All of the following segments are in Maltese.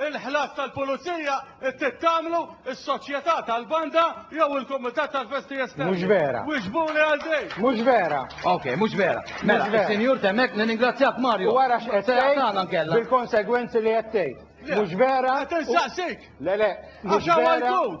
il-ħlas tal-pulizija trid tagħmlu s-soċjetà tal-banda jew il-kumitat tal-festi esterni. Mhux vera. Wieġbuli għal din. Mhux vera. Ok, mhux vera. Mela, sinjur temmek nirringrazzjak Mario. Wara x'qed tgħid bil-konsegwenzi li qed tgħid. Mhux vera. Qed insaqsik. Le le. Għax hawn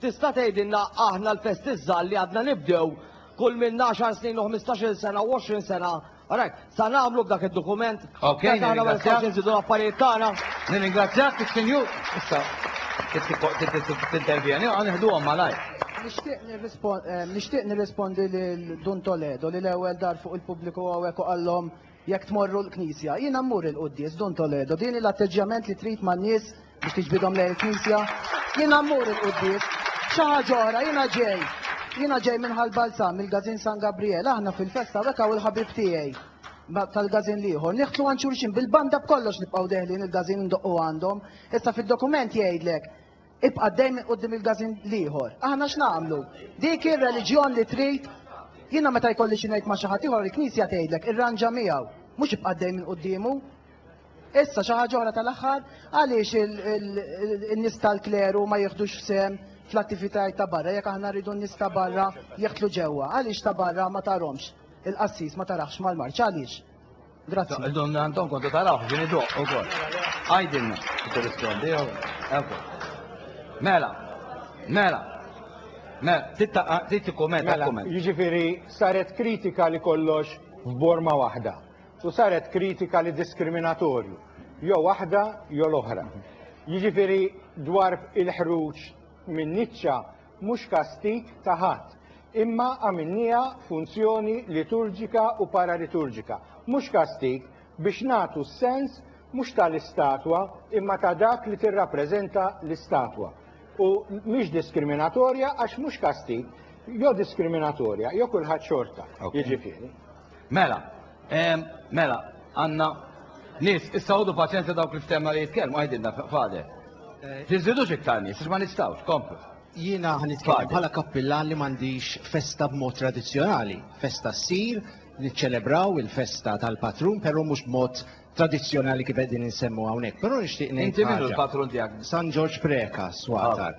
Tista' tgħidilna aħna l-festiżżal li għadna nibdew kull minn 10 snin u 15-il sena u 20 sena, rajt, sa nagħmlu b'dak id-dokument? Ok, nirringrazzjak. Nżidu l-affarijiet tagħna. Nirringrazzjak, Sinjur. Issa, tintervjeni, għan iħduhom malajr. Nixtieq nirrispondi lil Dun Toledo li l-ewwel dar fuq il-pubbliku hawnhekk u qallhom Jekk tmorru l-knisja, jiena mmur il-quddies Dun Toledo, din hi l-atteġġjament li trid man-nies biex tiġbidhom lejn il-knisja? Jiena mmur il-quddies. Xi ħaġa oħra, jiena ġej. Jiena ġej minn Ħal Balzan, mill-Gazin San Gabriel, aħna fil-festa hawnhekk hawn il-ħabib tiegħi ma' tal-Gazin l-ieħor. Niħtlu għand xulxin, bil-banda b'kollox nibqgħu deħlin il-Gazin indoqqu għandhom. Issa fid-dokument jgħidlek, Ibqa' dejjem quddiem il-gażin l-ieħor. Aħna x'nagħmlu? Dik hi r-reliġjon li trid? Jiena meta jkolli xi ngħid ma' xi ħadd ieħor il-Knisja tgħidlek irranġa miegħu, mhux ibqa' dejjem quddiemu. Issa xi ħaġa oħra tal-aħħar, għaliex in-nies tal-kleru ma jieħdux sehem fl-attivitajiet ta' barra jekk aħna rridu n-nies ta' barra jeħtlu ġewwa? Għaliex ta' barra ma tarhomx? Il-qassis ma taraħx mal-marċ għaliex? Grazzi. Donna Anton kontu taraw, ġini doq u kol. Għajdinna, t-rispondi, eko. Mela, mela, mela, titti komment, mela, komment. Jġifiri, saret kritika li kollox f'borma wahda. U saret kritika li diskriminatorju. Jo wahda, jo l-oħra. Jġifiri, dwar il-ħruċ minn niċċa, mhux kastig ta' ħadd, imma għamilniha funzjoni liturġika u paraliturġika, mhux kastig, biex nagħtu s-sens mhux ta' l-istatwa imma ta' dak li tirrappreżenta l-istatwa. U mhix diskriminatorja għax mhux kastig, jew diskriminatorja jew kulħadd xorta, jiġifieri. Mela, ehm, mela, għanna nis, issa għodu paċenza dawk li ftemna li jitkellmu għajdinna fade. Eh, Tiżidux iktar nis, ma nistawx, komplu. Jiena għan nitkellem bħala kappillan li m'għandix festa b'mod tradizzjonali. Festa ssir, niċċelebraw il-festa tal-patrun, però mhux b'mod tradizzjonali kif qegħdin insemmu hawnhekk, però nixtieq ngħid. Inti minnu l-patrun tiegħek? San Ġorġ Preka, swatar.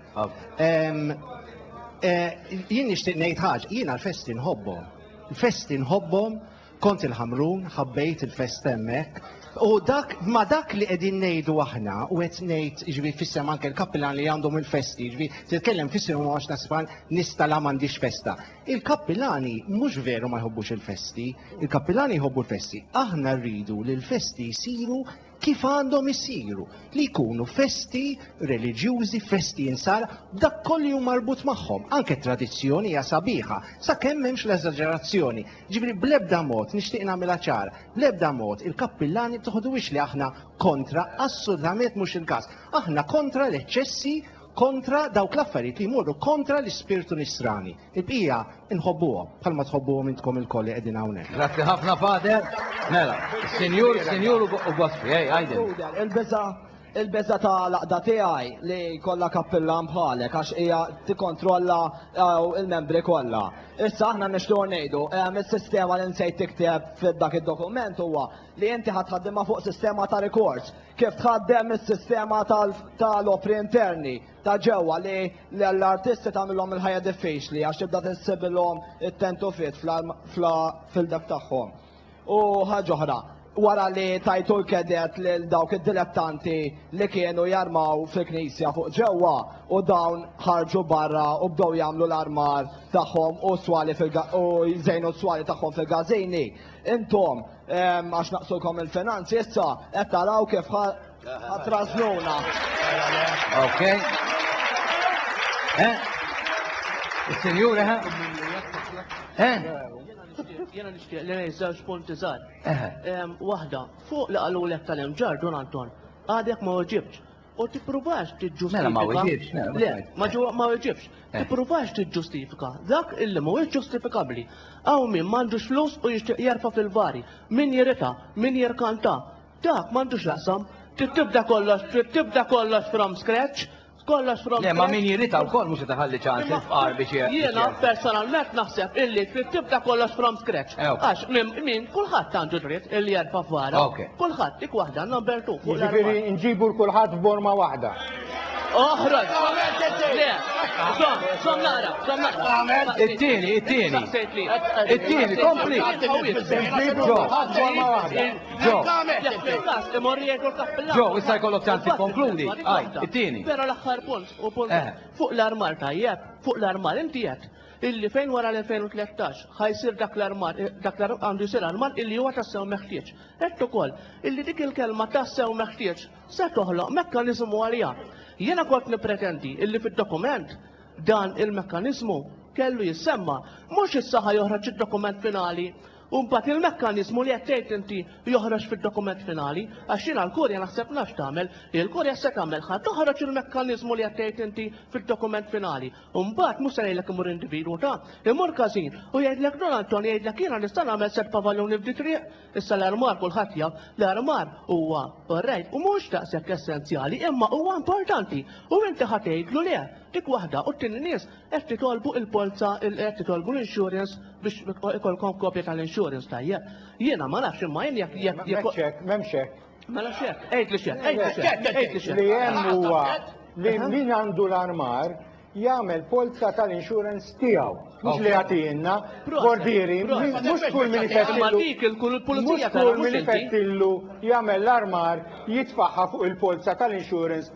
Eh, jien nixtieq ngħid ħaġa, jien għal-festi nħobbhom. Il-festi nħobbhom, kont il-ħamrun, ħabbejt il-fest hemmhekk. U dak, ma dak li qegħdin ngħidu aħna, u qed ngħid ġvi fissem anke l-kapillan li għandhom il-festi, ġvi titkellem fissem u għax nasban nista la m'għandix festa. Il-kappilani mhux veru ma jħobbux il-festi, il-kappilani jħobbu l-festi. Aħna rridu li l-festi jsiru kif għandhom isiru, li jkunu festi reliġjużi, festi insara, b'dak kollu li hu marbut magħhom. Anke t-tradizzjoni hija sabiħa, sakemm m'hemmx l-eżaġerazzjoni. Jiġifieri bl-ebda mod, nixtieq nagħmilha ċara, bl-ebda mod il-kappilani ma toħduhiex li aħna kontra, assolutament mhux il-każ. Aħna kontra l-eċċessi kontra dawk l-affarijiet li jmorru kontra l-ispirtu nisrani. Il-bqija inħobbuhom bħalma tħobbuhom intkom ilkoll li qegħdin hawnhekk. Grazzi ħafna Pater. Mela, Sinjur, Sinjur u Gospi, ej, għajdin. Il-biża' il-biża' ta' laqda tiegħi li kollha kappillan bħalek għax hija tikkontrolla eh, il-membri kollha. Issa aħna nixtiequ ngħidu eh, mis-sistema li nsejt tikteb f'dak id-dokument huwa li inti ħadd fuq sistema ta' rikors Kif tħaddem is-sistema ta' l-opri interni ta' ġewwa li l-artisti tagħmilhom il-ħajja diffiċli għax tibda tinsibilhom it-tent u fit fil-dak tagħhom. U ħaġa oħra, wara li tajtu l-kedet lil dawk id-dilettanti li kienu jarmaw fil-knisja fuq ġewwa u dawn ħarġu barra u bdew jagħmlu l-armar tagħhom u s-swali u jżejnu s-swali tagħhom fil-gażini, intom Għax naqsukom il-finanzi, issa qed taraw kif ħatrażnuna. Ok. Eh? Is-sinjura ha? Eh? Jena nixtieq li ngħid żewġ punti żgħar. Waħda, fuq li qalu lek tal-imġar Don Anton, għadek ma oġibx. U tippruvax tiġġustifika. Mela ma weġibx, mela. Le, ma ġu ma weġibx. Eh. Tippruvax tiġġustifika dak illi mhuwiex ġustifikabbli. Hawn min m'għandux flus u jixtieq jerfa' fil-vari, min jirita, min jirkanta. Dak m'għandux jaqsam. Trid tibda kollox, trid tibda kollox from scratch kollox from Le, ma min jirrita u koll mux taħalli ċans il-fqar biex Jena personalment naħseb illi trid tibda kollox from scratch. Eh, Għax minn Min, kulħadd għandu dritt li jerfa' f'vara. Kulħadd, dik waħda għandna nbertuh fuq l-armar. Jiġifieri nġibu 'l kulħadd f'borma waħda. Oħroġ! Le, żomm, żomm naqra, żomm naqra. It-tieni, it-tieni. It-tieni, kompli. Nġibu kulħadd f'borma waħda. Ġo. Fil-każ imur jgħidu l-kappillan. Ġo, issa jkollok ċans tikkonkludi. Għaj, it-tieni. Però l-aħħar punt, u punt fuq l-armar tajjeb, fuq l-armar inti qed. illi fejn wara l-2013 ħa jsir dak l-armar, dak l-armar għandu jsir armar illi huwa tassew meħtieġ. Għedt ukoll illi dik il-kelma tassew meħtieġ se toħloq mekkaniżmu għaliha. Jiena kont nippretendi illi fid-dokument dan il-mekkaniżmu kellu jissemma. Mhux issa ħa joħroġ id-dokument finali u mbagħad il-mekkaniżmu li qed tgħid inti joħroġ fid-dokument finali, għax jiena l-Kurja naħseb nafx tagħmel. Il-Kurja se tagħmel ħa toħroġ il-mekkaniżmu li qed tgħid inti fid-dokument finali. u mbagħad mhux se ngħidlek imur individwu ta', imur każin, u jgħidlek Don Antonio jgħidlek jiena nista' nagħmel sett pavalluni f'di triq? Issa l-armar kulħadd jaf, l-armar huwa orrejt u mhux daqshekk essenzjali imma huwa importanti u inti ħa tgħidlu le, dik waħda u t-tieni nies qed titolbu il-polza qed titolbu l-insurance biex ikollkom kopja tal-insurance tajjeb. Jiena ma nafx imma jien jekk jekk jekk M'hemmx hekk, m'hemmx hekk. Mela xek, għed li xek, għed li xek, għed li xek. Li jem huwa li min għandu l-armar jagħmel polza tal-insurance tiegħu. Mhux li jagħtina bordieri, mhux kull min ifettillu jagħmel l-armar jitfaħħa fuq il-polza tal-insurance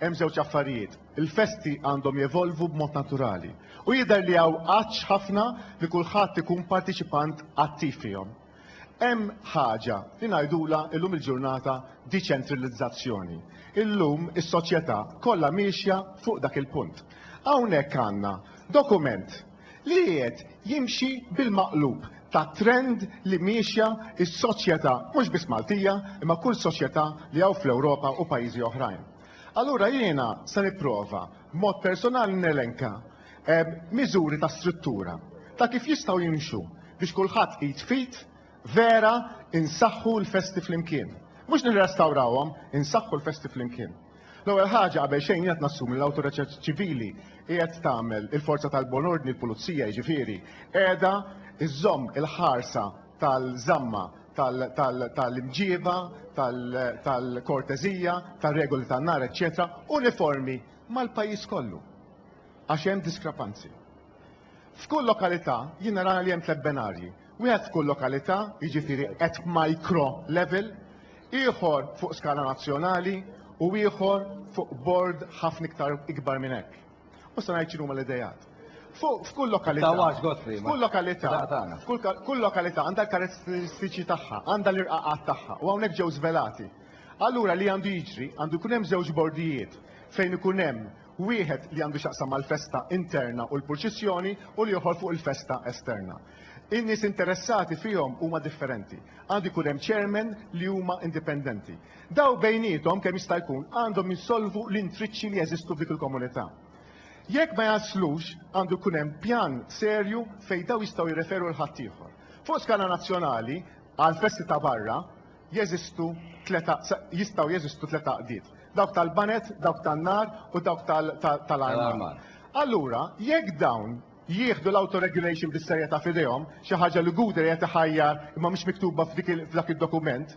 Hemm żewġ affarijiet, il-festi għandhom jevolvu b'mod naturali u jidher li hawn għatx ħafna li kulħadd ikun partiċipant attiv fihom. Hemm ħaġa li ngħidulha illum il-ġurnata diċentrillizzazzjoni. Illum is-soċjetà kollha miexja fuq dak il-punt. Hawnhekk għandna dokument li qiegħed jimxi bil-maqlub tat-trend li miexja s-soċjetà mhux biss Maltija imma kull soċjetà li hawn fl-Ewropa u pajjiżi oħrajn. Allura jiena se nipprova b'mod personali nelenka miżuri ta' struttura ta' kif jistgħu jimxu biex kulħadd id f'id Vera, insaħħu l-festi flimkien. Mhux nirrestawrawhom, insaħħu l-festi flimkien. L-ewwel ħaġa qabel xejn jiena nassumi l-awtorità ċivili qiegħed tagħmel il-forza tal-bon ordni l-pulizija jiġifieri qiegħda żżomm il-ħarsa tal-żamma tal-imġieba, tal-korteżija, tar-regoli tan-nar, eċċetera, uniformi mal-pajjiż kollu. Għax hemm diskrepanzi. F'kull lokalità jien nara li hemm tliet benarji. Wieħed f'kull lokalità, jiġifieri at micro level, ieħor fuq skala nazzjonali u ieħor fuq bord ħafna iktar ikbar minn hekk. U se ngħid x'inhuma l-idejat. Fuq f'kull lokalità, f'kull lokalità, kull lokalità għandha l-karatteristiċi tagħha, għandha l-irqaqat tagħha u hawnhekk ġew żvelati. Allura li għandu jiġri, għandu jkun hemm żewġ bordijiet fejn ikun hemm wieħed li għandu x'jaqsam mal-festa interna u l-purċissjoni u l-ieħor fuq il-festa esterna. In-nies interessati fihom huma differenti. Għandu jkun hemm chairman li huma indipendenti. Daw bejniethom kemm jista' jkun għandhom jsolvu l-intriċċi li jeżistu f'dik il-komunità. Jekk ma jaslux għandu jkun hemm pjan serju fejn daw jistgħu jirreferu 'l ħaddieħor. Fuq skala nazzjonali, għall-festi ta' barra, jeżistu tliet għaq- sa- jistgħu jeżistu tliet għaqdiet, dawk tal-baned, dawk tan-nar u dawk tal- ta- tal-armar. Tal-armar. Allura, jekk dawn jieħdu l-auto-regulation bis-serjetà f'idejhom, xi ħaġa li Google qiegħed iħajjar imma mhix miktuba f'dik il- f'dak id-dokument,